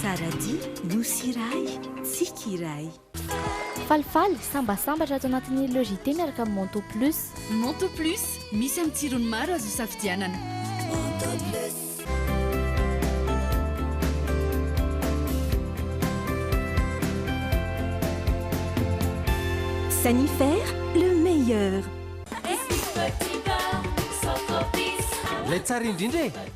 Saradi, Nosy iray, Tsiky iray. Falifaly, Sambasambatra ato anatin'ny Le JT miaraka amin'ny Manteau Plus. Manteau Plus, misy amin'ny tsirony maro azo isafidianana. Manteau Plus. Sanifer, le meilleur. Ilay tsara indrindra e!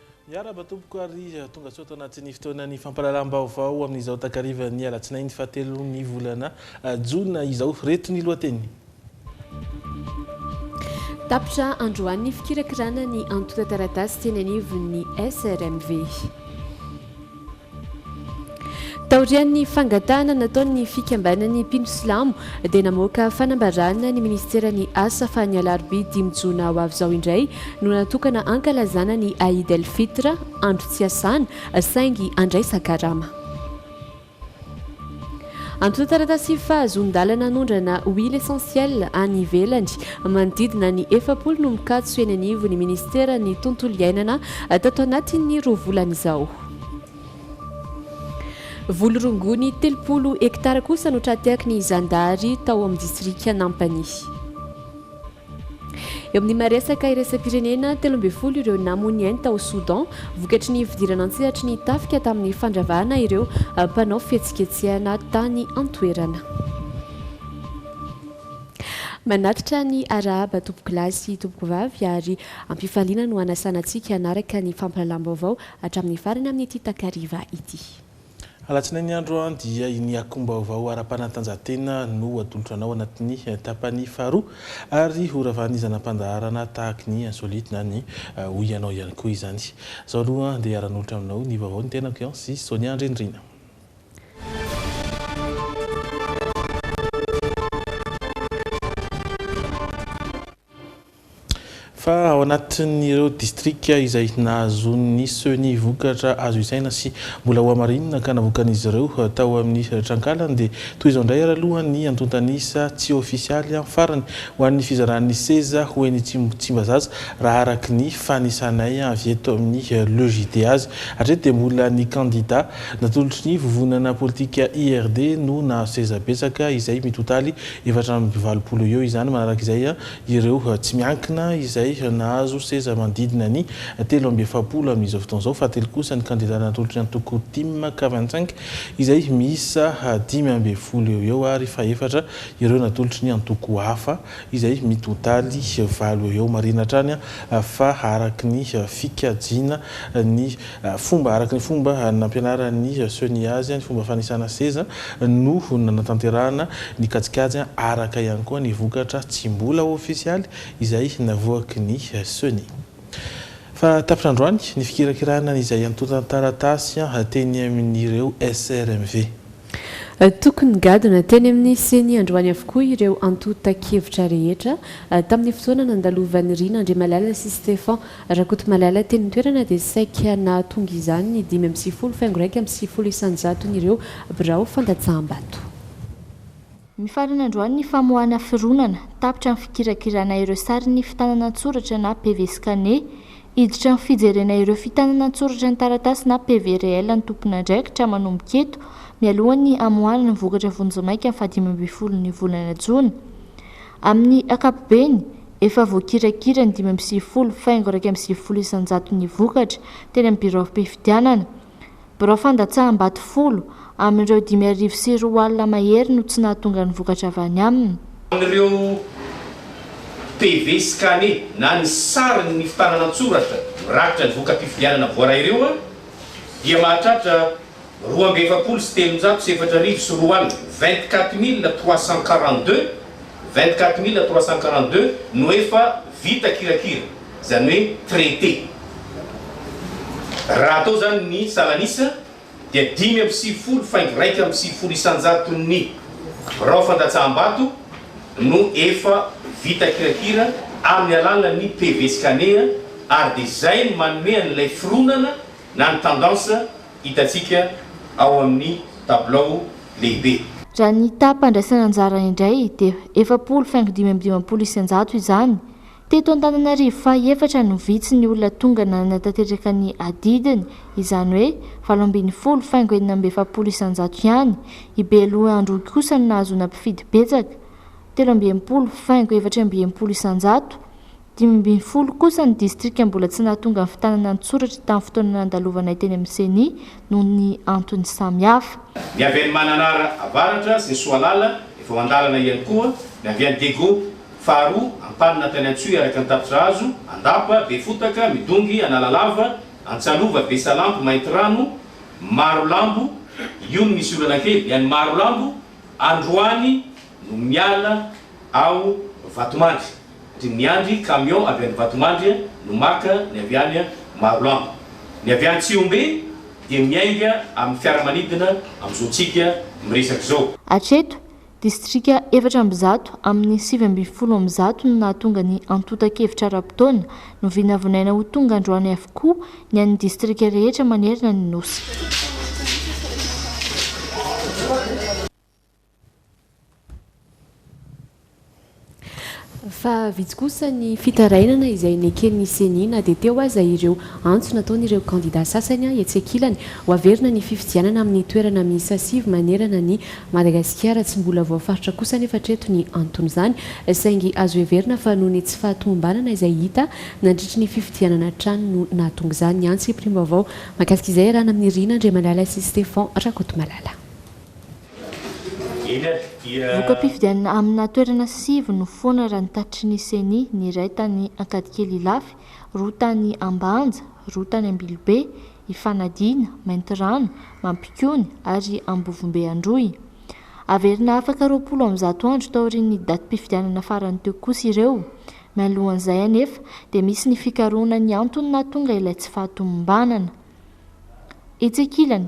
Miarahaba tompoko ary tongasoa tao anatin'ny fotoanan'ny fampahalalam-baovao amin'izao takarivan'ny alatsinainy fahatelon'ny volana jona izao. Reto ny lohateny. Tapitra androany ny fikirakirana ny antontan-taratasy teny anivon'ny SRMV. Taorian'ny fangatahana nataon'ny fikambanan'ny mpino silamo dia namoaka fanambarana ny minisiteran'ny Asa fa ny alarobia dimy jona ho avy izao indray no natokana hankalazana ny Aïd El Fitr, andro tsy iasana saingy handraisan-karama. Antontan-taratasy fahazoan-dalana hanondrana huile essentielle any ivelany manodidina ny efapolo no mikatso eny anivon'ny minisiteran'ny Tontolo iainana tato anatin'ny roa volana izao. Voly rongony telopolo hektara kosa no tra-tehaky ny zandary tao amin'ny distrikan'Ampanihy. Eo amin'ny maha-resaka iraisam-pirenena, telo ambin'ny folo ireo namoy ainy tao Soudan vokatry ny fidirana an-tsehatry ny tafika tamin'ny fandravahana ireo mpanao fihetsiketsehana tany an-toerana. Manatitra ny arahaba tompokolahy sy tompokovavy ary ampifaliana no hanasana antsika hanaraka ny fampahalalam-baovao Hatramin'ny farany amin'ity takariva ity. Alatsinainy andro dia iny akom-baovao ara-panatanjahantena no atolotra anao anatin'ny tapany faharoa ary ho ravan'ny zana-pandaharana tahaky ny insolite na ny hoy anao ihany koa izany. Zao aloha dia ara-nolotra aminao ny vaovao ny tenako an sy Sonia Andrianirina. Fa ao anatin'ireo distrika izay nahazoan'ny Ceni vokatra azo isaina sy mbola hohamarinina ka navoakan'izy ireo tao amin'ny trankalany dia toy izao indray ary aloha ny antontan'isa tsy ofisialy farany ho an'ny fizaran'ny seza ho eny Tsimbazaza raha araky ny fanisanay avy eto amin'ny Le JDAzy hatreto dia mbola ny kandida natolotry ny vovonana politika IRD no nahazo seza betsaka izay mitotaly efatra amby valopolo eo izany manaraka izay ireo tsy miankina izay nahazo seza manodidina ny telo amby efapolo amin'izao fotoana izao, fahatelo kosa ny kandidà natolotry ny antoko Tim Quarante Cinq izay miisa dimy ambin'ny folo eo ho eo ary fahefatra ireo natolotry ny antoko hafa izay mitotaly valo eo ho eo. Marihina hatrany fa araka ny fikajiana ny Fomba araka ny fomba nampianaran'i Sonia azy ny fomba fanisana seza no nanatanterahana ny kajikajy araka ihany koa ny vokatra tsy mbola ofisialy izay navoaky ny Sonia. Fa tapitra androany ny fikirakirana izay antontan-taratasy teny amin'ireo SRMV. Tokony nigadona teny amin'ny Ceni androany avokoa ireo antontan-kevitra rehetra. Tamin'ny fotoana nandalovan'i Rina Andriamalala sy Stefan Rakotomalala teny an-toerana dia saika nahatonga izany ny dimy amby sivifolo faingo iraika amby sivifolo isanjaton'ireo birao fandatsaham-bato. Mifarana androany ny famoahana fironana, tapitra ny fikirakirana ireo sarin'ny fitanana an-tsoratra na PV scanné. Hiditra amin'ny fijerena ireo fitanana an-tsoratra ny taratasy na PV réel ny tompon'andraikitra manomboka eto, mialohan'ny hamoahana ny vokatra vonjimaika ny fahadimy ambin'ny folon'ny volana jona. Amin'ny ankapobeny, efa voakirakira ny dimy amby sivifolo faingo iraika amby sivifolo isan-jaton'ny vokatra teny amin'ny biraom-pifidianana. Birao fandatsaham-bato folo amin'ireo dimy arivo sy roa alina mahery no tsy nahatonga ny vokatra avy any aminy. Amin'ireo PV scanné na ny sarin'ny fitanana an-tsoratra mirakitra ny voka-pifidianana voaray ireo dia mahatratra roa amby efapolo sy telonjato sy efatra arivo sy roa alina, vingt-quatre mille trois cent quarante-deux, vingt-quatre mille trois cent quarante-deux, no efa vita kirakira. izany hoe traité. Raha atao izany ny salan'isa dia dimy amby sivifolo faingo iraika amby sivifolo isan-jaton'ny birao fandatsaham-bato no efa vita kirakira amin'ny alalan'ny PV Scania ary dia izay no manome an'ilay fironana na ny tendance hitantsika ao amin'ny tabilao lehibe. Raha ny taha-pandraisana anjara indray dia efapolo faingo dimy amby dimampolo isan-jato izany Teto Antananarivo faha efatra no vitsy ny olona tonga nanana tanteraka ny adidiny, izany hoe valo ambin'ny folo faingo enina amby efapolo isanjato ihany. I Beloandroy kosa no nahazoana mpifidy betsaka, telo amby enimpolo faingo efatra amby enimpolo isanjato. Dimy ambin'ny folo kosa ny distrika mbola tsy nahatonga ny fitanana an-tsoratra tamin'ny fotoana nandalovanay teny amin'ny Ceni noho ny antony samihafa. Ny avy any Mananara Avaratra sy ny Soalala efa mandalana ihany koa, ny avy any Digo Faharoa, Antanina tany Antsohihy araka ny tapitr'hazo, Andapa, Befotaka, Midongy, Analalava, Antsalova, Besalampy, Maintirano, Marolambo, io no misy olana kely, ny any Marolambo, androany no miala ao Vatomandry, satria miandry camion avy any Vatomandry no maka ny avy any Marolambo. Ny avy any Tsihombe dia miainga amin'ny fiaramanidina amin'izao tsika miresaka izao. Hatreto, Distrika efatra amby zato amin'ny sivy ambin'ny folo amby zato no nahatonga ny antontan-kevitra ara-potoana, novinavinaina ho tonga androany avokoa ny an'ny distrika rehetra manerana ny Nosy. Fa vitsy kosa ny fitarainana izay neken'ny Ceni na dia teo aza ireo antso nataon'ireo kandida sasany etsy ankilany ho averina ny fifidianana amin'ny toerana miisa sivy manerana an'i Madagasikara. Tsy mbola voafaritra kosa anefa hatreto ny anton'izany saingy azo heverina fa noho ny tsy fahatomombanana izay hita nandritry ny fifidianana hatrany no nahatonga izany. Miantso hiprim-baovao mahakasika izay iarahana amin'i Rina Andriamalala sy Stefan Rakotomalala. Voka-pifidianana amina toerana sivy nofoana raha ny tatitry ny Ceni, ny iray tany Ankadikely Ilafy, roa tany Ambanja, roa tany Ambilobe, Ifanadiana, Maintirano, Mampikony ary Ambovombe Androy. Haverina afaka roapolo amby zato andro taorian'ny datim-pifidianana farany teo kosa ireo. Mialohan'izay anefa dia misy ny fikarohana ny antony nahatonga ilay tsy fahatomombanana. Etsy ankilany,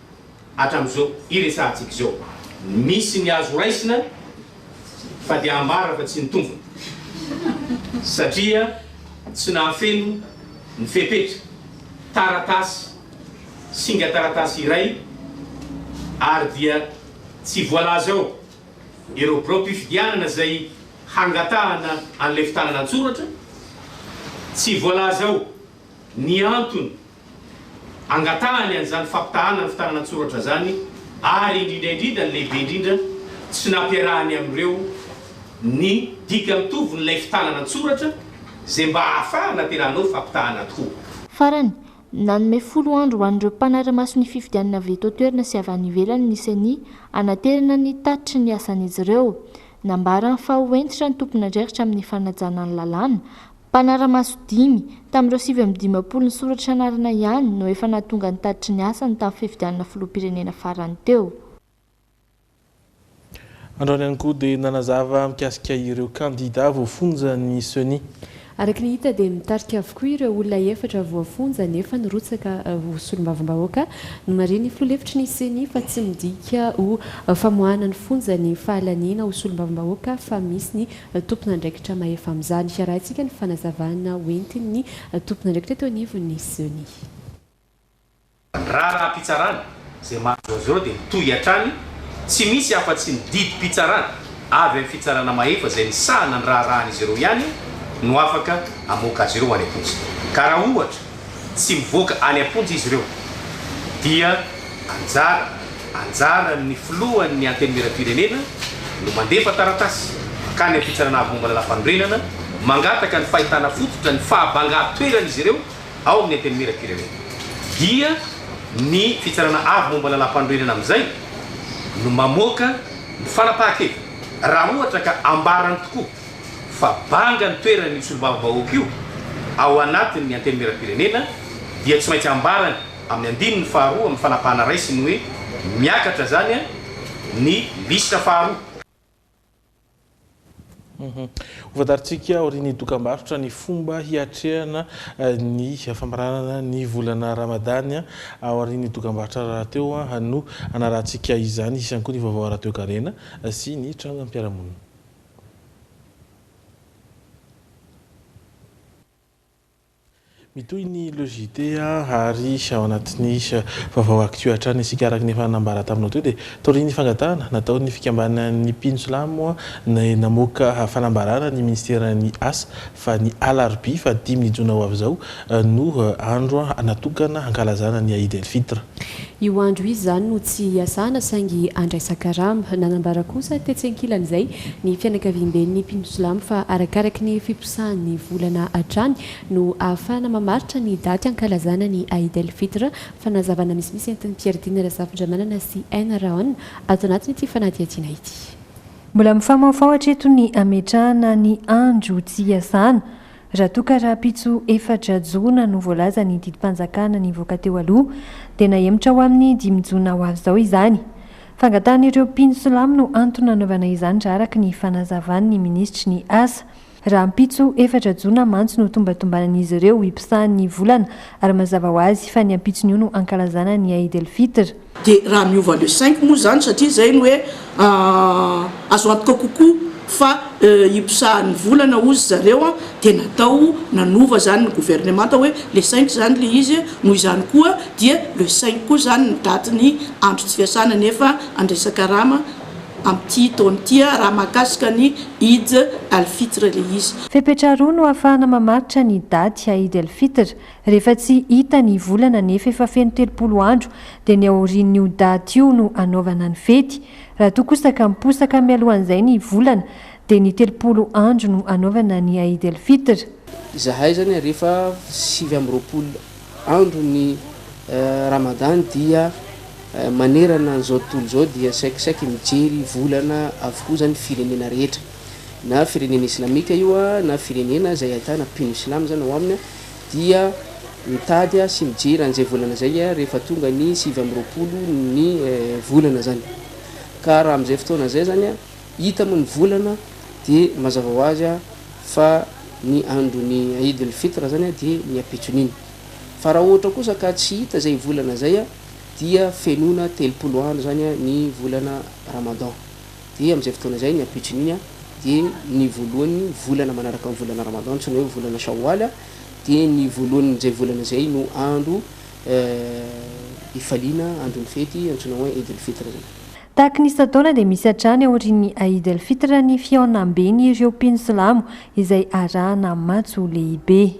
hatramin'izao iresahantsika izao. Misy ny azo raisina fa dia ambara fa tsy ny tombony satria tsy nahafeno ny fepetra, taratasy, singa taratasy iray ary dia tsy voalaza ao ireo biraom-pifidianana izay hangatahana an'ilay fitanana an-tsoratra, tsy voalaza ao ny antony Angatahany an'izany fampitahàna ny fitanana an-tsoratra izany ary indrindra indrindra ny lehibe indrindra tsy nampiarahany amin'ireo ny dika mitovin'ilay fitanana an-tsoratra izay mba hahafahana tena hanao fampitahàna tokoa. Farany, nanome folo andro ho an'ireo mpanara-maso ny fifidianana avy eto an-toerana sy avy any ivelany ny Ceni hanaterana ny tatitry ny asan'izy ireo. Nambarany fa ho hentitra ny tompon'andraikitra amin'ny fanajana ny lalàna, Mpanara-maso dimy, tamin'ireo sivy amby dimampolo nisoratra anarana ihany no efa nahatonga ny tatitry ny asany tamin'ny fifidianana filoham-pirenena farany teo. Androany ihany koa dia nanazava mikasika ireo kandida voafonja ny Ceni. Araka ny hita dia mitarika avokoa ireo olona efatra voafonja nefa nirotsaka ho solombavambahoaka. Nomarihin'ny filoha lefitry ny Ceni fa tsy midika ho famoahana ny fonja ny fahalaniana ho solombavambahoaka fa misy ny tompon'andraikitra mahefa amin'izany. Arahintsika ny fanazavana hoentin'ny tompon'andraikitra teo anivon'ny Ceni. Ny raharaham-pitsarana izay mahazo azy ireo dia mitohy hatrany, tsy misy afa-tsy ny didim-pitsarana avy amin'ny fitsarana mahefa izay misahana ny raharahan'izy ireo ihany no afaka hamoaka azy ireo any am-ponja. Ka raha ohatra. Tsy mivoaka any am-ponja izy ireo dia anjara anjaran'ny filohan'ny Antenimierampirenena no mandefa taratasy mankany amin'ny Fitsarana Avo Momba ny Lafanorenana mangataka ny fahitana fototra ny fahabangan-toeran'izy ireo ao amin'ny Antenimierampirenena dia ny Fitsarana Avo Momba ny Lalampanorenana amin'izay no mamoaka ny fanapahan-keviny raha ohatra ka ambarany tokoa fa banga ny toerany io solombavambahoaka io ao anatin' ny Antenimierampirenena dia tsy maintsy ambarany amin' ny andininy faharoa amin' ny fanapahana raisiny hoe miakatra izany ny lisitra faharoa. Hofantarintsika aorian' ny dokambarotra ny fomba hiatrehana ny famaranana ny volana Ramadany aorian' ny dokambarotra rahateo no hanarahantsika izany. Hisy ihany koa ny vaovao ara-toekarena sy ny trangam-piarahamonina. Mitohy ny Le JT ary ao anatin'ny vaovao Actu hatrany isika araka ny efa nambara taminao teo dia taorian'ny fangatahana nataon'ny fikambanan'ny mpino silamo dia namoaka fanambarana ny ministeran'ny Asa fa ny alarobia faha dimy ny jona ho avy izao no andro natokana hankalazana ny Aïd El Fitr. Io andro io izany no tsy hiasana saingy handraisan-karama. Nanambara kosa tetsy ankilan'izay ny fianakaviamben'ny mpino silamo fa arakaraky ny fiposahan'ny volana hatrany no ahafahana mamaritra ny daty hankalazana ny Aïd el-Fitr. Fanazavana misimisy entin'i Pierredine Razafindramanana sy Enraon ato anatin'ity fanadihadiana ity. Mbola mifamahofaho hatreto ny hametrahana ny andro tsy hiasana Raha toa ka rahampitso efatra jona no voalaza ny didim-panjakana nivoaka teo aloha dia nahemotra ho amin'ny dimy jona ho avy izao izany. Fangatahan'ireo mpino silamo no antony nanaovana izany raha araka ny fanazavan'ny minisitry ny asa. Rahampitso efatra jona mantsy no tombatombanan'izy ireo hiposahan'ny volana ary mazava ho azy fa ny ampitson'io no hankalazana ny Eid el-Fitr. Dia raha miova le cinq moa izany satria izay no hoe azo antoka kokoa fa hiposahan'ny volana hozy zareo dia natao nanova izany ny governemanta hoe le cinq izany le izy noho izany koa dia le cinq koa izany ny daty ny andro tsy fiasana nefa andraisa karama amin'ity taona ity raha mahakasika ny Eid al-Fitr le izy. Fepetra roa no ahafahana mamaritra ny daty Eid al-Fitr, Rehefa tsy hita ny volana nefa efa feno telopolo andro dia ny aorian'io daty io no anaovana ny fety. Raha toa kosa ka miposaka mialohan'izay ny volana dia ny telopolo andro no anaovana ny Aïd el Fitr. Izahay izany ary efa sivy amby roapolo andro ny Ramadany dia manerana an'izao tontolo izao dia saikisaiky mijery volana avokoa izany firenena rehetra. Na firenena islamika io na firenena izay ahitana mpino silamo izany ao aminy. dia mitady sy mijery an'izay volana izay rehefa tonga ny sivy amby roapolo ny volana izany. Ka raha amin'izay fotoana izay izany hita moa ny volana dia mazava ho azy fa ny andron'ny Eid al-Fitr izany dia ny ampitson'iny. Fa raha ohatra kosa ka tsy hita izay volana izay dia fenoina telopolo andro izany ny volana Ramadan. Dia amin'izay fotoana izay ny ampitson'iny dia ny voalohan'ny volana manaraka ny volana Ramadan antsoina hoe volana Shawwal dia ny voalohan'izay volana izay no andro ifaliana andron'ny fety antsoina hoe Eid al-Fitr izay. Tahaka ny isan-taona dia misy hatrany aorian'ny Eid al-Fitr ny fihaonamben'ireo mpino silamo izay arahana matso lehibe.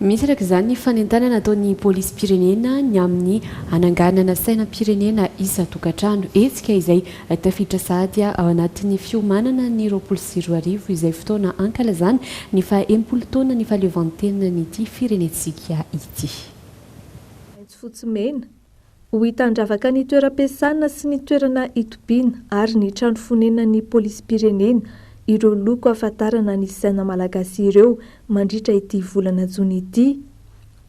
Misy araka izany ny fanentanana ataon'ny polisim-pirenena ny amin'ny hananganana sainam-pirenena isan-tokantrano, hetsika izay tafiditra sahady ao anatin'ny fiomanana ny roapolo sy roa arivo izay fotoana hankalazana ny faha enimpolo taonan'ny fahaleovantenan'ity firenentsika ity. Maitso fotsy mena, Ho hita handravaka ny toeram-piasana sy ny toerana itobiana ary ny trano fonenan'ny polisim-pirenena ireo loko hahafantarana ny saina malagasy ireo mandritra ity volana jona ity,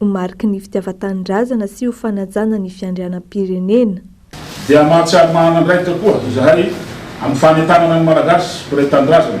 ho mariky ny fitiavan-tanindrazana sy ho fanajana ny fiandrianam-pirenena. Dia mahatsiaro manana andraikitra koa izahay amin'ny fanentanana ny Malagasy mpiray tanindrazana.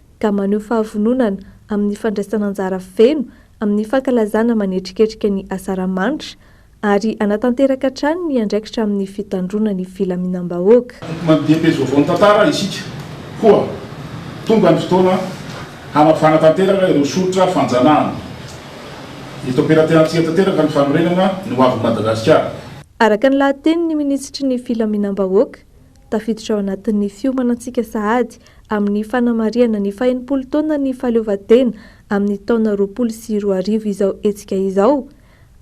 ka maneho fahavononana amin'ny fandraisana anjara feno amin'ny fankalazana manetriketrika ny Asaramanitra ary hanatanteraka hatrany ny andraikitra amin'ny fitandroana ny filaminam-bahoaka. Mandinika pejy vaovao ny tantara isika koa. Tonga ny fotoana hanavahana tanteraka ireo soritra fanjanahana. Eto am-pelaterantsika tanteraka ny fanorenana ny hoavin'i Madagasikara. Araka ny lahatenin'ny minisitry ny filaminam-bahoaka, Tafiditra ao anatin'ny fiomanantsika sahady amin'ny fanamarihana ny fahenimpolo taonan'ny fahaleovantena amin'ny taona roapolo sy roa arivo izao hetsika izao.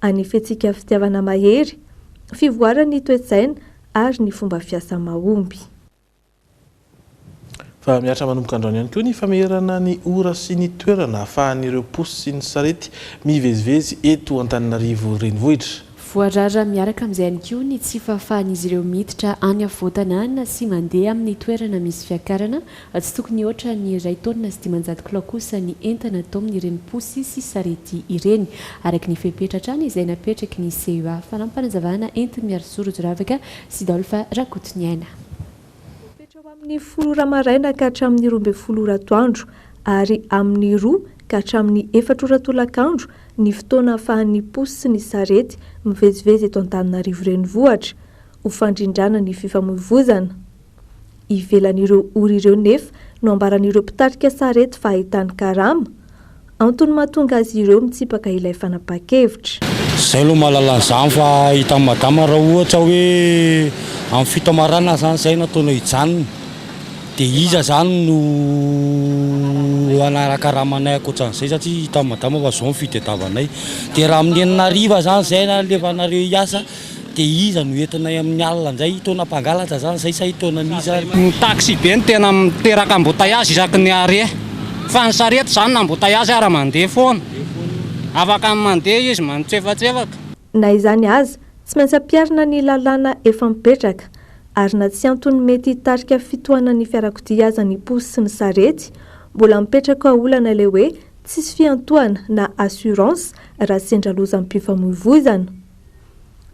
Hanefentsika fitiavana mahery, fivoaran'ny toe-tsaina ary ny fomba fiasa mahomby. Fa mihatra manomboka androany ihany koa ny famerana ny ora sy ny toerana ahafahan'ireo posy sy ny sarety mivezivezy eto Antananarivo Renivohitra. Voarara miaraka amin'izay ihany koa ny tsy fahafahan'izy ireo miditra any afovoan-tanàna sy mandeha amin'ny toerana misy fiakarana, tsy tokony hoatra ny iray taonina sy dimanjato kilao kosa ny entana atao amin'ireny posy sy sarety ireny, araka ny fepetra hatrany izay napetraky ny CEA. Fanampin'ny fanazavana entin'i Miarisoa Rojoravaka sy Dolph Rakotoniaina. Voafetra ho amin'ny folo ora maraina ka hatramin'ny roa ambin'ny folo ora atoandro, ary amin'ny roa ka hatramin'ny efatra ora tolakandro ny fotoana ahafahan'ny posy sy ny sarety mivezivezy eto Antananarivo Renivohitra, ho fandrindrana ny fifamoivozana. Ivelan'ireo ora ireo nefa no ambaran'ireo mpitarika sarety fa ahitany karama, Antony mahatonga azy ireo mitsipaka ilay fanapahan-kevitra. Izay aloha mahalala an'izany fa hitan'i madama raha ohatra hoe amin'ny fito am maraina zany izay no ataonao hijanona dia iza zany no hanakaramanay ankoatran'izay satria hitan'i madama fa izao ny fitadiavanay dia raha amin'ny enina hariva zany izay no alefanareo hiasa de iza no entinay amin'ny alina indray? Taona mpangalatra zany zay sa i taona mi zany? Ny taxibe no tena miteraka embouteillage isaky ny arrêt fa ny sarety zany na embouteillage ara mandeha foana, afaka mandeha izy manotsefatsefaka. Na izany aza, tsy maintsy ampiharina ny lalàna efa mipetraka, ary na tsy antony mety hitarika fitohanan'ny fiarakodia aza ny posy sy ny sarety, mbola mipetraka olana ilay hoe tsisy fiantohana na assurance raha sendra lozam-pifamoivoizana.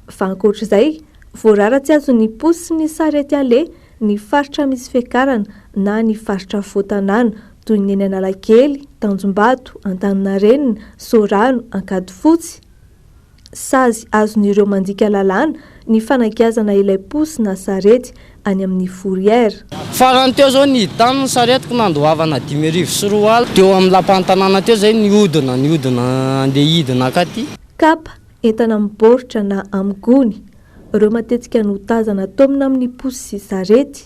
Fa ankoatr'izay, voarara tsy azon'ny posy sy ny sarety aleha ny faritra misy fiakarana na ny faritra afovoan-tanàna toy ny eny Analakely, Tanjombato, Antaninarenina, Soarano, Ankadifotsy. Sazy azon'ireo mandika lalàna ny fanagiazana ilay posy na sarety any amin'ny Fourrière. Farany teo izao niditany ny saretiko nandoavana dimy arivo sy roa alina teo amin'ny lapan'ny tanàna teo izay nihodina nihodina handeha hidina ankaty. Cap, Entana amin'ny baoritra na amin'ny gony, ireo matetika no tazana ataomina amin'ny posy sy sarety.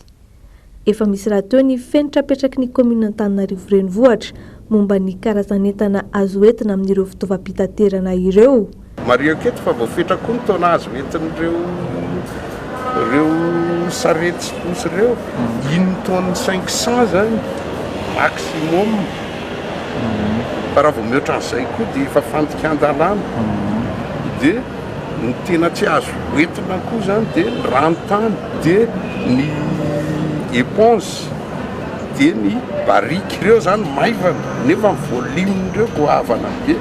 Efa misy rahateo ny fenitra apetraky ny kaominina Antananarivo Renivohitra momba ny karazan'entana azo entina amin'ireo fitaovam-pitaterana ireo. Marihiko eto fa voafetra koa ny taona azo entin'ireo ireo sarety sy posy ireo, dimy tonnes cinq cents izany maximum. fa raha vao mihoatra an'izay koa dia efa fandikan-dalàna, dia ny tena tsy azo hoentina koa izany dia ny ranontany, dia ny éponge, dia ny barrique, ireo izany maivana nefa ny volume-n'ireo goavana be,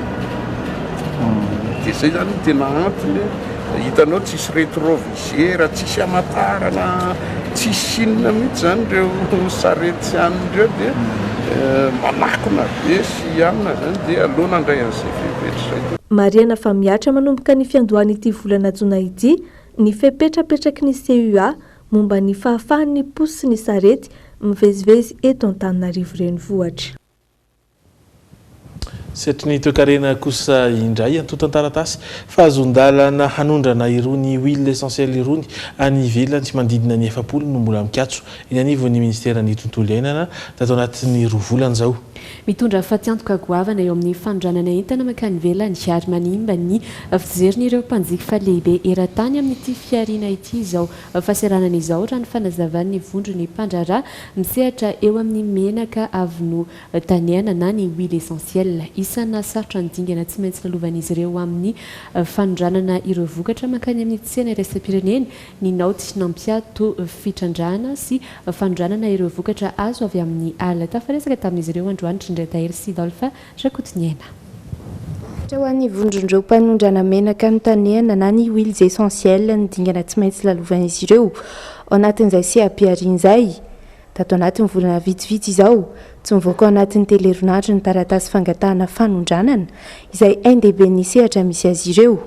dia izay izany no tena antony, hitanao tsisy retrovirus. Gera tsisy amatarana tsisy inona mihitsy zany ireo sarety sy anona ireo dia manakona be sy anona zany dia aleo nandray an'izay fepetra izay. Marihana fa mihatra manomboka ny fiandohan'ity volana jona ity ny fepetra apetraky ny CUA momba ny fahafahan'ny posy sy ny sarety mivezivezy eto Antananarivo renivohitra. Sehatrin'ny toekarena kosa indray antontan-taratasy fahazoan-dalana hanondrana irony huiles essentielles irony any ivelany manodidina ny efapolo no mbola mikatso eny anivon'ny Ministeran'ny Tontolo Iainana tato anatin'ny roa volana izao. Mitondra fatiantoka goavana eo amin'ny fanondranana entana mankany ivelany ary manimba ny fijerin'ireo mpanjifa lehibe eran-tany amin'ity fihariana ity izao fahasahiranana izao, raha ny fanazavan'ny vondron'ny mpandraharaha misehatra eo amin'ny menaka avy Taniana na ny huile essentiel. Isana sarotra ny dingana tsy maintsy lalovan'izy ireo amin'ny fanondranana ireo vokatra mankany amin'ny tsena iraisam-pirenena ny naoty nampiato fitrandrahana sy fanondranana ireo vokatra azo avy amin'ny ala. Tafaresaka tamin'izy ireo androany Trindratahiry sy Dolphin Rakotoniaina. Ohatra ho an'ny vondron'ireo mpanondrana menaka ny Taniana na ny huiles essentiels ny dingana tsy maintsy lalovan'izy ireo ao anatin'izay seha-pihariana izay. Tato anatin'ny volana vitsivitsy izao, tsy nivoaka ao anatin'ny telo herinandro ny taratasy fangatahana fanondranana, izay ain-dehiben'ny sehatra misy azy ireo.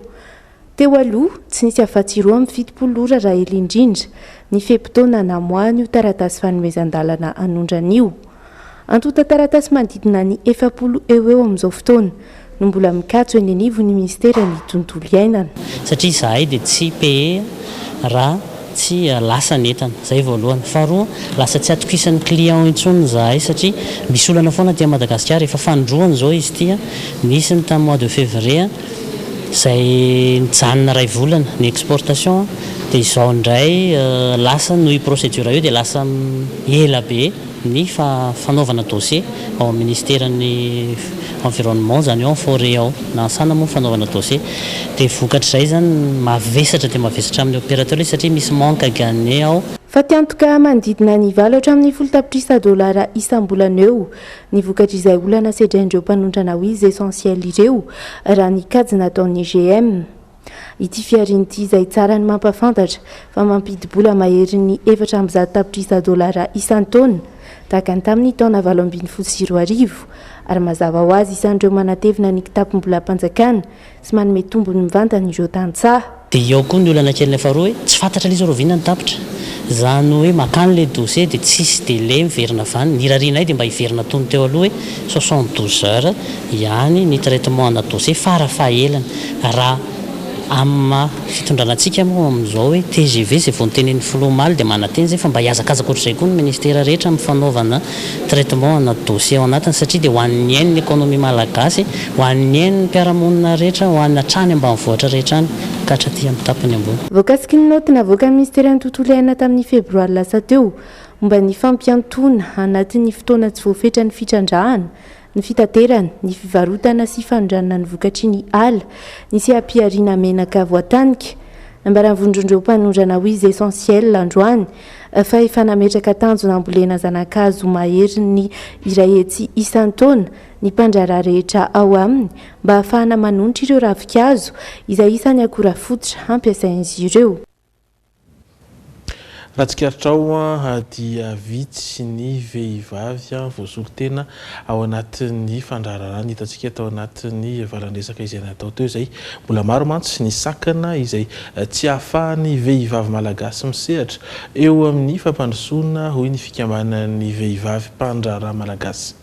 Teo aloha, tsy nisy afa-tsy roa amby fitopolo ora raha ela indrindra, ny fe-potoana namoahan'io taratasy fanomezan-dalana hanondrana io. Antontan-taratasy manodidina ny efapolo eo ho eo amin'izao fotoana. no mbola mikatso eny anivon'ny minisiteran'ny tontolo iainana. Satria izahay dia tsy pee raha tsy lasa ny entana. Izay voalohany. Faharoa, lasa tsy atokisan'ny clients intsony izahay satria misy olana foana aty Madagasikara. Efa fanindroany izao izy ity. Nisy ny tamin'ny mois de février izay nijanona iray volana ny exportation dia izao indray lasa noho io procédure io dia lasa ela be. ny fanaovana dossier ao amin'ny ministeran'ny environnement izany ao amin'ny forêt ao, na an-tsana moa ny fanaovana dossier, dia vokatr'izay izany mavesatra dia mavesatra amin'ny opérateur izy satria misy manque à gagner ao. Fatiantoka manodidina ny valo hatramin'ny folo tapitrisa dolara isam-bolana eo ny vokatr'izay olana sedrain'ireo mpanondrana huiles essentielles ireo, raha ny kajy nataon'ny GM. Ity fihariana ity izay tsara ny mampahafantatra fa mampidi-bola maherin'ny efatra amby zato tapitrisa dolara isan-taona, tahaka ny tamin'ny taona valo ambin'ny folo sy roa arivo, ary mazava ho azy isan'ireo manatevina ny kitapom-bolam-panjakana sy manome tombony mivantana ireo tantsaha. Dia ao koa ny olana kelinay faharoa hoe tsy fantatra ilay izy rahoviana ny tapitra. Izany hoe makany ilay dosie dia tsisy delai miverina vaniny. Irarianay dia mba hiverina tony teo aloha hoe soixante douze heures, ihany ny traitement ana dossier fara fahelany. Raha amin'ny maha fitondrana antsika moa amin'izao hoe tgv izay vao notenenin'ny filoha omaly dia manantena izay fa mba hihazakazaka ohatr'izay koa ny ministera rehetra amin'ny fanaovana traitement ana dossier ao anatiny satria dia ho an'ny ain'ny economie malagasy, ho an'ny ain'ny mpiara-monina rehetra, ho an'ny hatrany ambanivohitra rehetra any ka hatraty amin'ny tapany ambony. Voakasiky ny naoty navoakan'ny Minisiteran'ny Tontolo iainana tamin'ny Febroary lasa teo, Momba ny fampiantoana, anatin'ny fotoana tsy voafetra ny fitrandrahana, ny fitaterana, ny fivarotana sy fanondranana ny vokatry ny ala, ny seha-pihariana menaka voatanika. Nambaran'ny Vondron'ireo Mpanondrana Huiles Essentielles androany fa efa nametraka tanjona hambolena zana-kazo maherin'ny iray hetsy isan-taona ny mpandraharaha rehetra ao aminy mba hahafahana manonitra ireo ravin-kazo izay isan'ny akora fototra hampiasain'izy ireo. Raha tsikaritrao dia vitsy ny vehivavy voasolo tena ao anatin'ny fandraharahana hitantsika tao anatin'ny valan-dresaka izay natao teo izay. Mbola maro mantsy ny sakana izay tsy ahafahan'ny vehivavy malagasy misehatra eo amin'ny fampandrosoana hoy ny fikambanan'ny vehivavy mpandraharaha malagasy.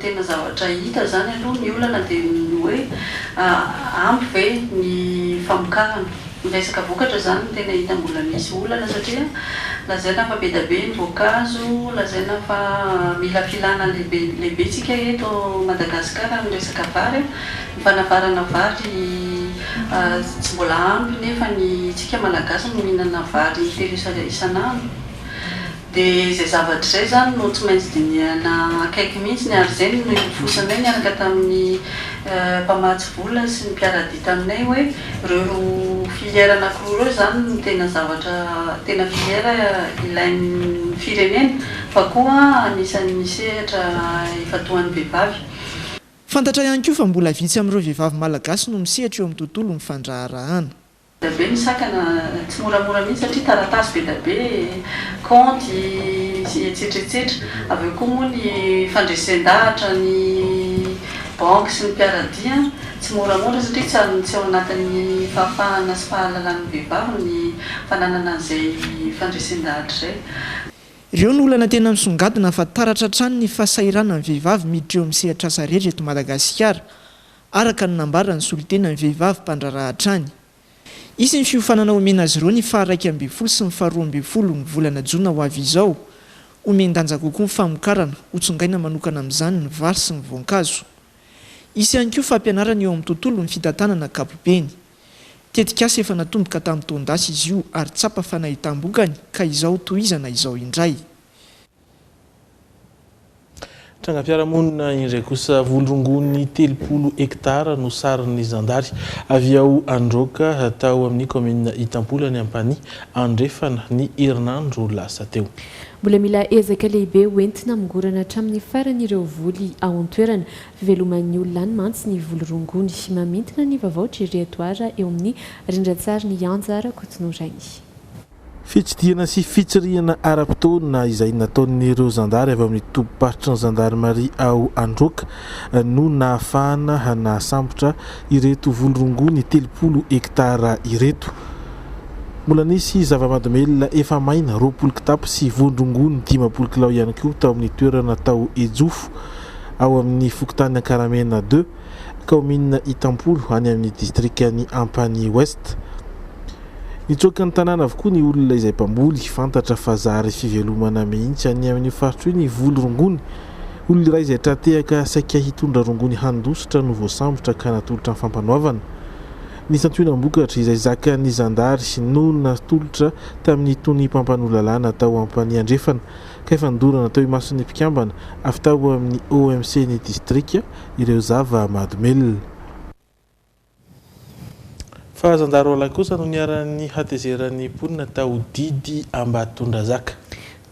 Tena zavatra hita zany aloha, ny olana dia ny hoe ampy ve ny famokarana. Ny resaka vokatra zany no tena hita mbola misy olana satria lazaina fa be dia be ny voankazo, lazaina fa mila filana lehibe tsika eto Madagascar amin'ny resaka vary, ny fanavarana vary tsy mbola ampy nefa ny tsika malagasy no mihinana vary telo isa isan'andro. Dia izay zavatra izay izany no tsy maintsy dinihana akaiky mihitsy ny ary izay no nirofosanay niaraka tamin'ny mpamatsy vola sy ny mpiara-dia taminay hoe ireo roa filière anankiroa ireo izany no tena zavatra tena filière ilain'ny firenena fa koa anisan'ny misehatra ifantohan'ny vehivavy. Fantatra ihany koa fa mbola vitsy amin'ireo vehivavy malagasy no misehatra eo amin'ny tontolon'ny fandraharahana. Dia avy eo ny sakana tsy moramora mihitsy satria taratasy be dia be, kaonty sy etsetra etsetra. Avy eo koa moa ny fandresen-dahatra ny banky sy ny mpiara-dia tsy moramora satria tsy ao tsy ao anatin'ny fahafahana sy fahalalan'ny vehivavy ny fananana an'izay fandresen-dahatra izay. Ireo no olana tena misongadina fa taratra hatrany ny fahasahiranan'ny vehivavy miditra eo amin'ny sehatr'asa rehetra eto Madagasikara. araka ny nambaran'ny solontenan'ny vehivavy mpandraharaha hatrany. Hisy ny fiofanana omena azy ireo ny faha iraika ambin'ny folo sy ny faha roa ambin'ny folo ny volana jona ho avy izao. Homen-danja kokoa ny famokarana, hotsongaina manokana amin'izany ny vary sy ny voankazo. Hisy ihany koa fampianarana eo amin'ny tontolon'ny fitantanana ankapobeny. Tetikasa efa natomboka tamin'ny taon-dasa izy io ary tsapa fa nahitam-bokany ka izao tohizana izao indray. Trangam-piarahamonina indray kosa, voly rongony telopolo hektara no sarin'ny zandary avy ao Androka, tao amin'ny kaominina Itampola any Ampanihy Andrefana, ny herinandro lasa teo. Mbola mila ezaka lehibe ho entina hamongorana hatramin'ny farany ireo voly ao an-toerana. Fiveloman'ny olona any mantsy ny voly rongony. Mamintina ny vaovao Jerry Edouard eo amin'ny rindran-tsarin'i Anja Rakotonorainy. Fitsidihana sy fitsirihana ara-potoana izay nataon'ireo zandary avy ao amin'ny tobim-paritry ny zandarimaria ao Androaka no nahafahana nahasambotra ireto voly rongony telopolo hektara ireto. Mbola nisy zava-mahadomelina efa maina roapolo kitapo sy voan-drongony dimampolo kilao ihany koa tao amin'ny toerana tao Ejofo, ao amin'ny fokontany Ankaramena deux. kaominina Itampolo any amin'ny distrikan'i Ampanihy Ouest. Nitsoaka ny tanàna avokoa ny olona izay mpamboly, fantatra fa zary fivelomana mihitsy any amin'io faritra io ny voly rongony. Olona iray izay tra-tehaka saika hitondra rongony handositra no voasambotra ka natolotra ny Fampanoavana ny santionam-bokatra izay zakan'ny zandary no natolotra tamin'itony mpampanoa lalàna tao Ampanihy Andrefana ka efa nodorana teo imason'ny mpikambana avy tao amin'ny OMC ny distrika ireo zava-mahadomelina. Fa zandarolahy kosa no niharan'ny hatezeran'ny mponina tao Didy Ambatondrazaka.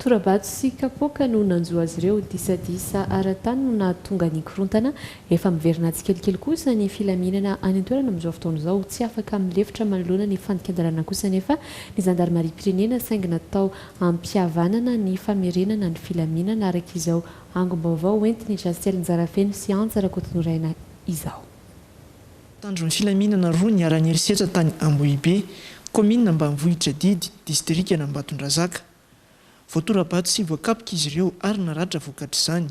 Tora-bato sy kapoaka no nanjo azy ireo. Disadisa ara-tany no nahatonga ny korontana. Efa miverina tsikelikely kosa ny filaminana any an-toerana amin'izao fotoana izao. Tsy afaka milefitra manoloana ny fandikan-dalàna kosa anefa ny zandarimariam-pirenena saingy natao hampihavanana ny famerenana ny filaminana araka izao Angom-baovao ho entin'i Jassel Njarafeno sy Antsa Rakotonoraina izao. Mpitandro ny filaminana roa niharan'ny herisetra tany Ambohibe, kaominina ambanivohitra Didy, distrikan'Ambatondrazaka. Voatora-bato sy voakapoka izy ireo ary naratra vokatr'izany.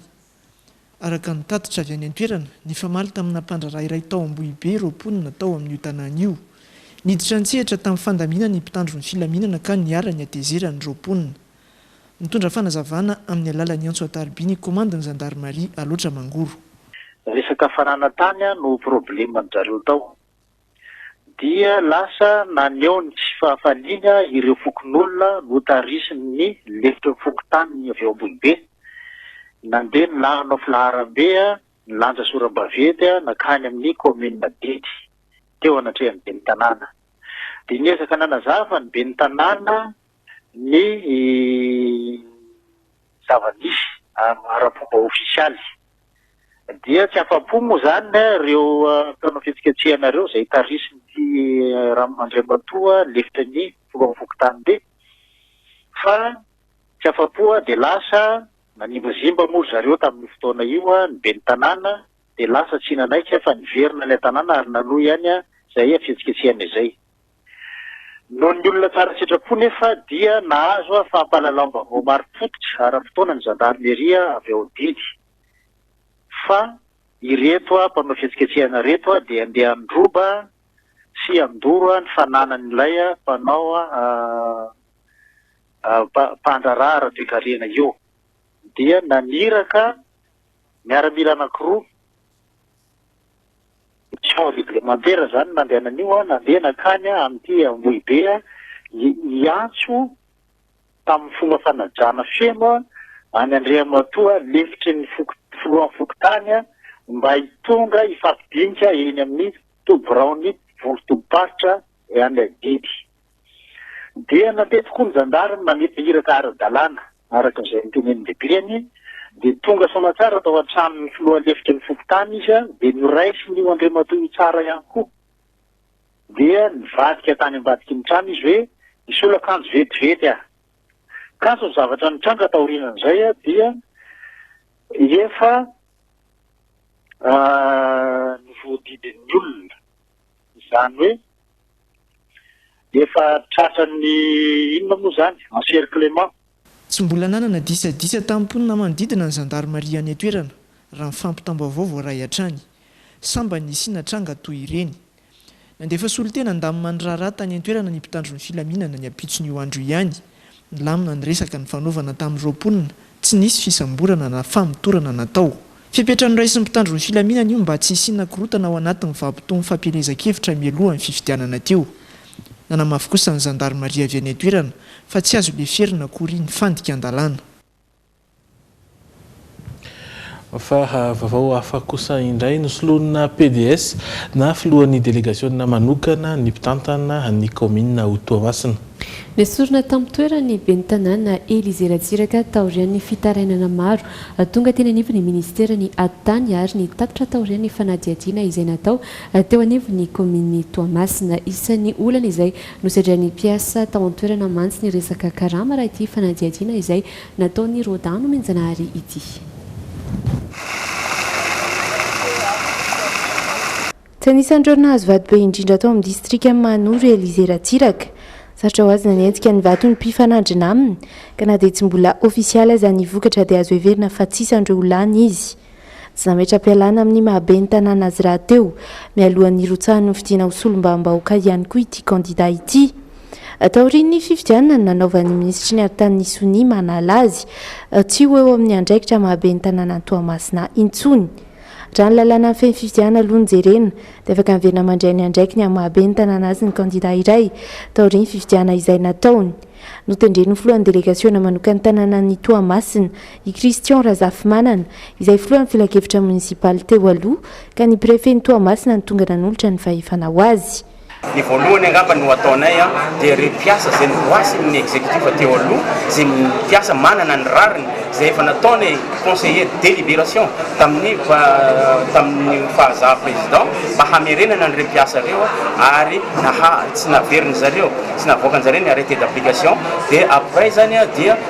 Araka ny tatitra avy any an-toerana, nifamaly tamina mpandraharaha iray tao Ambohibe ireo mponina tao amin'io tanàna io. Niditra an-tsehatra tamin'ny fandaminana ny mpitandro ny filaminana ka niara-nihatezerana ireo mponina. Mitondra fanazavana amin'ny alalan'ny antso an-tarobia ny komandin'ny zandarimaria Alaotra Mangoro. Resaka fananantany no probleman-dry zareo tao. Dia lasa naneho ny tsy fahafaliana ireo fokonolona notarisin'ny lefitry ny fokontany avy ao Ambohibe. Nandeha ny lanonao filaharambe nilanja sora-baventy nankany amin'ny kaominina Dedy, teo anatrehan'ny ben'ny tanàna. Dia niezaka nanazava ny ben'ny tanàna ny zava-misy ara-pomba ofisialy. Dia tsy afa-po moa izany ireo mpanao fihetsiketsehana ireo izay tarihin'ity Andriamatoa lefitry ny filohan'ny fokontany ity fa tsy afa-po dia lasa nanimbazimba moa ry zareo tamin'io fotoana io ny ben'ny tanàna dia lasa tsy nanaiky fa niverina ilay tanàna ary nanohy ihany izay fihetsiketsehana izay. Noho ny olona tsara sitrapo nefa dia nahazo fampahalalam-baovao marim-pototra ara-potoana ny zandarimeria avy ao Didy fa ireto mpanao fihetsiketsehana ireto dia handeha handroba sy handoro ny fananan'ilay mpanao mpandraharaha ara-toekarena io dia naniraka miaramila anankiroa Champ reglementaire zany nandehanan'io an, nandeha nankany an amin'ity Ambohibe an, hiantso tamin'ny fomba fanajana feno an an'i Andriamatoa lefitry ny foko, filohan'ny fokontany an, mba hitonga hifampidinika eny amin'ny toby biraon'ny vondro tobim-paritra any Adidy. Dia nandety koa ny zandary ny manefa iraka ara-dalàna, araka izay notenenin'ny lehibeny, dia tonga soamatsara tao an-tranon'ny filoha lefitry ny fokontany izy dia noraisin'io Andriamatoa io tsara ihany koa. Dia nivadika tany ambadiky ny trano izy hoe, Misolo akanjo vetivety aho. Kanjo ny zavatra nitranga taorianan'izay dia efa novoadidin'ny olona. Izany hoe efa tratran'ny inona moa izany, encerclement. Tsy mbola nanana disadisa tamin'ny mponina manodidina ny zandarimaria any an-toerana, raha ny fampitam-baovao voaray hatrany. Sambany nisiana tranga toy ireny. Nandefa solontena handamina ny raharaha tany an-toerana ny mpitandro ny filaminana ny ampitson'io andro io ihany, Nilamina ny resaka nifanovana tamin'ireo mponina, tsy nisy fisamborana na famotorana natao. Fepetra noraisin'ny mpitandro ny filaminana io mba tsy hisiana korontana ao anatin'ny vabotohan'ny fampielezan-kevitra mialoha ny fifidianana teo. Nanamafy kosa ny zandarimaria avy any an-toerana fa tsy azo leferina akory ny fandikan-dalàna. Fa vavao hafa kosa indray no solonina PDS na filohan'ny delegasiona manokana ny mpitantana ny kaominina ao Toamasina. Nesorina tamin-toerany ny ben'ny tanàna Elysée Ratsiraka taorian'ny fitarainana maro. Tonga teny anivon'ny minisitera ny ady tany ary ny tapitra taorian'ny fanadihadiana izay natao teo anivon'ny kaomininy Toamasina. Isan'ny olana izay nosedrain'ny mpiasa tao an-toerana mantsy ny resaka karama raha ity fanadihadiana izay Nataon'i Roda nomenjanahary ity. Tsy anisan'ireo nahazo vato be indrindra tao amin'ny distrikan'i Mahanoro i Elysée Ratsiraka. Sarotra ho azy nanenjika ny vato ny mpifanandrina aminy, ka na dia tsy mbola ofisialy aza ny vokatra dia azo heverina fa tsy isan'ireo ho lany izy. Tsy nametra-pialana amin'ny maha-be ny tanàna azy rahateo, mialohan'ny hirotsahan'ny fidiana ho solombavambahoaka ihany koa ity kandida ity. Taorian'ny fifidianana, nanaovan'ny minisitry ny aritanin'ny sonia manala azy tsy ho eo amin'ny andraikitra maha-be ny tanànan'i Toamasina intsony. Raha ny lalàna mifehy ny fifidianana aloha no jerena, dia afaka miverina mandray ny andraikiny amin'ny maha-be ny tanàna azy ny kandida iray, taorian'ny fifidianana izay nataony. Notendren'ny filohan'ny delegasiona manokan'ny tanànan'i Toamasina i Christian Razafimanana, izay filohan'ny filankevitra monisipaly teo aloha, ka ny prefen'i Toamasina no tonga nanolotra ny fahefana ho azy. Ny voalohany angamba no ataonay dia ireo mpiasa izay novoasin'ny executif teo aloha, izay mpiasa manana ny rariny, izay efa nataonay conseiller deliberation tamin'ny tamin'ny fahazaha président mba hamerenana an'ireo mpiasa ireo ary naha tsy naverin'ny zareo, tsy navoakan'ny zareo ny arrete d'application dia après izany dia.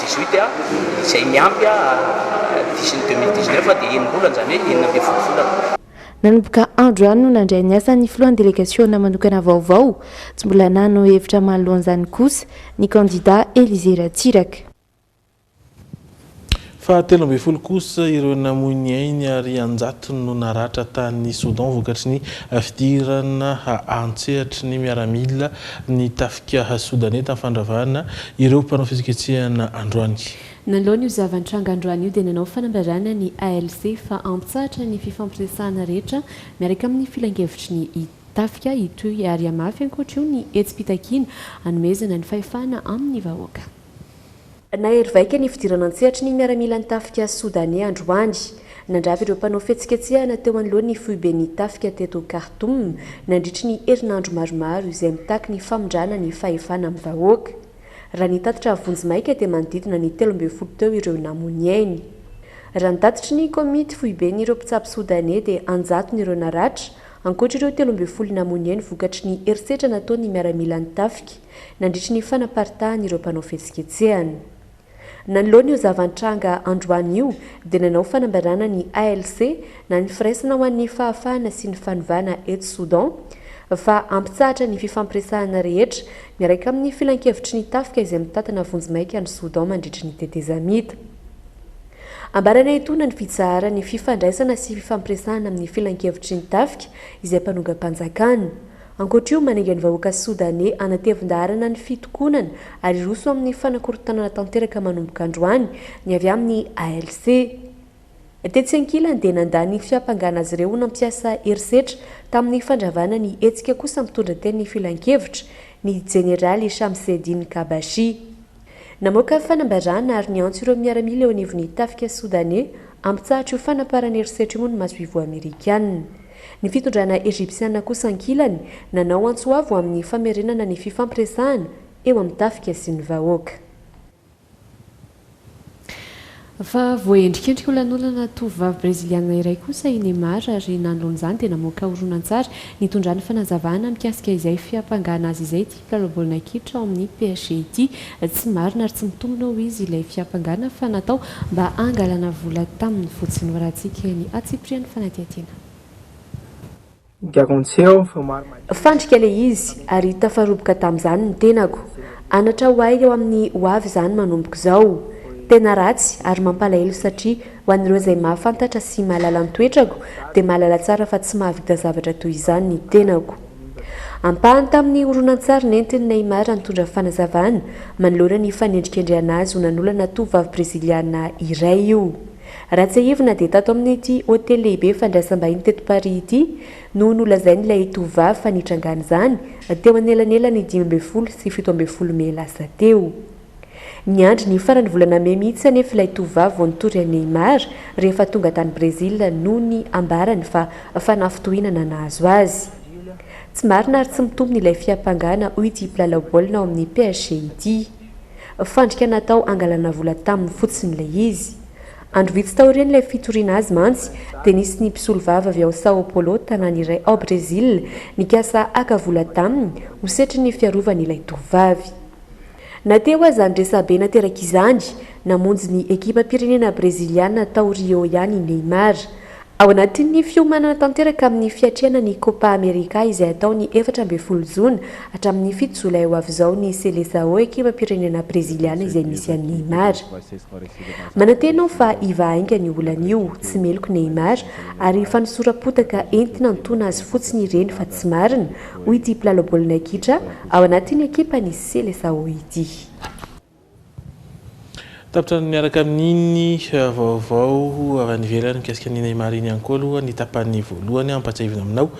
18 a, izay miampy a diso ny 2019 dia enim-bolana, izany hoe enina ambin'ny folo volana. Nanomboka andro ihany no nandray ny asany ny filohan'ny delegasiona manokana vaovao. Tsy mbola nano hevitra manoloan'izany kosa ny kandida Elysée Ratsiraka. Fahatelo ambin'ny folo kosa ireo namoy ny ainy ary an-jatony no naratra tany Soudan vokatry ny fidirana an-tsehatry ny miaramila ny tafika Sodaney tamin'ny fandravana ireo mpanao fihetsiketsehana androany. Nanoloana io zava-nitranga androany io dia nanao fanambarana ny ALC fa antsahatra ny fifampiresahana rehetra miaraka amin'ny filankevitry ny tafika hitohy ary hamafy ankoatra io ny hetsi-pitakiana hanomezana ny fahefana amin'ny vahoaka. Nahery vaika ny fidirana an-tsehatry ny miaramilan'ny tafika Sodaney androany. Nandrava ireo mpanao fihetsiketsehana teo anoloan'ny foiben'ny tafika teto Khartoum nandritry ny herinandro maromaro izay mitaky ny famindrana ny fahefana amin'ny vahoaka. Raha ny tatitra vonjimaika dia manodidina ny telo ambin'ny folo teo ireo namoniainy. Raha ny tatitry ny komity foiben'ireo mpitsabo Sodaney dia an-jatony ireo naratra, ankoatra ireo telo ambin'ny folo namoniainy vokatry ny herisetra nataon'ny miaramilan'ny tafika. nandritry ny fanaparitahan'ireo mpanao fihetsiketsehana. Nanoloana io zava-nitranga androany io dia nanao fanambarana ny ALC na ny Firaisana ho an'ny Fahafahana sy ny Fanovana eto Soudan fa hampitsahatra ny fifampiresahana rehetra miaraka amin'ny filankevitry ny tafika izay mitantana vonjimaika an'i Soudan mandritry ny tetezamita ambarana etoana ny fitsaharan'ny fifandraisana sy fifampiresahana amin'ny filankevitry ny tafika izay mpanongam-panjakana Ankoatra io, manenga ny vahoaka Sodaney hanatevin-daharana ny fitokonana ary hiroso amin'ny fanakorontanana tanteraka manomboka androany ny avy amin'ny ALC. Tetsy ankilany dia nandà ny fiampangana azy ireo ho nampiasa herisetra tamin'ny fandravana ny hetsika kosa mitondra teny ny filankevitra, ny jeneraly Shamseddine Kabashi. Namoaka fanambarana ary niantso ireo miaramila eo anivon'ny tafika Sodaney hampitsahatra io fanaparana herisetra io ny masoivoho Amerikana. Ny fitondrana Ejipsiana kosa ankilany, nanao antso avo amin'ny famerenana ny fifampiresahana eo amin'ny tafika sy ny vahoaka. Fa voaendrikendrika ho lanonana tovovavy Breziliana iray kosa i Neymar ary nanoloana izany dia namoaka horonantsary nitondra ny fanazavana mikasika izay fiampangana azy izay ity mpilalao baolina kitra ao amin'ny PSG ity. Tsy marina ary tsy mitombina hoy izy ilay fiampangana fa natao mba hangalana vola taminy fotsiny. Varatsika ny hatsipirian'ny fanadihadiana. Fandrika ilay izy ary tafaroboka tamin'izany ny tenako. Anatra ho ahy eo amin'ny ho avy izany manomboka izao. Tena ratsy ary mampalahelo satria ho an'ireo izay mahafantatra sy mahalala ny toetrako dia mahalala tsara fa tsy mahavita zavatra toy izany ny tenako. Ampahany tamin'ny horonantsary nentin'i Neymar nitondra fanazavana manoloana ny fanendrikendrehana azy ho nanolana tovovavy Breziliana iray io. Raha tsiahivina dia tato amin'ity hotely lehibe fandraisam-bahiny teto Paris ity no nolazain'ilay tovovavy fa nitrangan'izany teo anelanelan'ny dimy ambin'ny folo sy fito ambin'ny folo mey lasa teo. Niandry ny faran'ny volana mey mihitsy anefa ilay tovovavy vao nitory an'i Neymar rehefa tonga tany Brésil noho ny ambarany fa fanafintohinana nahazo azy. Tsy marina ary tsy mitombina ilay fiampangana hoy ity mpilalao baolina ao amin'ny PSG ity. Fandrika natao hangalana vola taminy fotsiny ilay izy. Andro vitsy taorian'ilay fitoriana azy mantsy, dia nisy ny mpisolovava avy ao Sao Paulo, tanàna iray ao Brezila, nikasa haka vola taminy ho setrin'ny fiarovany ilay tovovavy. Na teo aza ny resabe naterak'izany, namonjy ny ekipam-pirenena breziliana tao Rio ihany i Neymar. Ao anatin'ny fiomanana tanteraka amin'ny fiatrehana ny Copa America izay hatao ny efatra ambin'ny folo jona hatramin'ny fito jolay ho avy izao ny Seleçao ekipam-pirenena breziliana izay misy an'i Neymar. Manantena aho fa hivaha haingana io olana io, tsy meloky Neymar, ary fanosora-potaka entina hanotona azy fotsiny ireny fa tsy marina, hoy ity mpilalao baolina kitra ao anatin'ny ekipan'ny Seleçao ity. Tapitra ny miaraka amin'iny vaovao avy any ivelany mikasika an'i Neymar iny ihany koa aloha ny tapany voalohany. Hampahatsiahivina aminao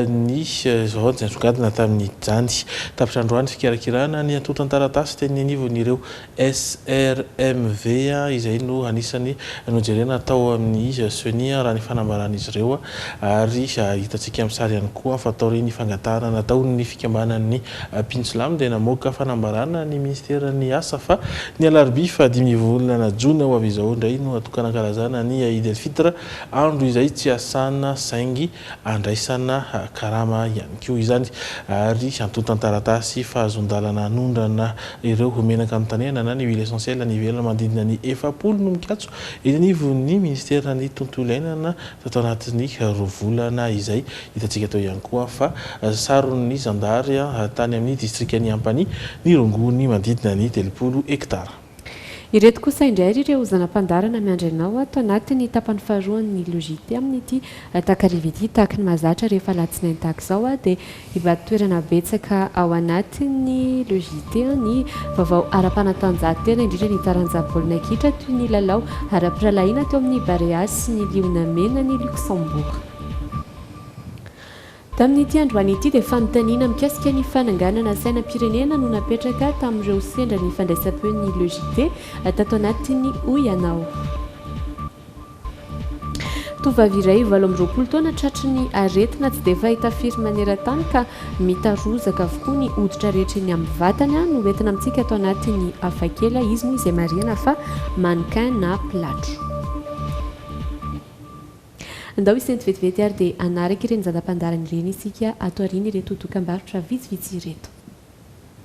ny zavaboaty izay nisongadina tamin'izany. Tapitra androany ny fikirakirana ny antontan-taratasy teny anivon'ireo SRMV izay no anisany nojerena tao amin'ny Ceni raha ny fanambaran'izy ireo ary hitantsika amin'ny sary ihany koa fa taorian'ny fangatahana nataon'ny fikambanan'ny Pinjilami dia namoaka fanambarana ny Ministeran'ny Asa fa ny alarobia fahadimy volana jona ho avy izao indray no hatokanan-kalazana ny Eid El Fitr, andro izay tsy hiasana saingy handraisana karama ihany koa izany ary antontan-taratasy fahazoan-dalana hanondrana ireo ho menaka notanehana na ny huile essentielle niverina manodidina ny efapolo no mikatso eny anivon'ny Ministeran'ny Tontolo Iainana Tato anatin'ny roa volana izay, hitantsika tao ihany koa fa saron'ny zandary tany amin'ny distrikan'i Ampanihy ny rongony manodidina ny telopolo hektara. Ireto kosa indray ry ireo zana-pandaharana miandry anao ato anatin'ny tapany faharoan'ny Logite amin'ity takariva ity. Tahaka ny mahazatra rehefa alatsinainy tahaka izao dia. Hivarotoerana betsaka ao anatin'ny Le JT ny vaovao ara-panatanjahantena, indrindra ny taranja baolina kitra toy ny lalao ara-pirahalahiana teo amin'ny Barea sy ny Liona Mena an'i Luxembourg. Tamin'ity androany ity dia fanontaniana mikasika ny fananganana sainam-pirenena no napetraka tamin'ireo sendra ny fandraisam-peon'ny Le JT tato anatiny hoy ianao. Tovovavy iray valo amby roapolo taona tratry ny aretina tsy dia fahita firy maneran-tany ka mitarozaka avokoa ny hoditra rehetra eny amin'ny vatany no entina amintsika ato anatin'ny Hafakely. Izy moa izay marihana fa mannequin na mpilatro. Andao hisento vetivety ary dia hanaraka ireny zana-pandaharana ireny isika ato aoriana ireto dokam-barotra vitsivitsy ireto.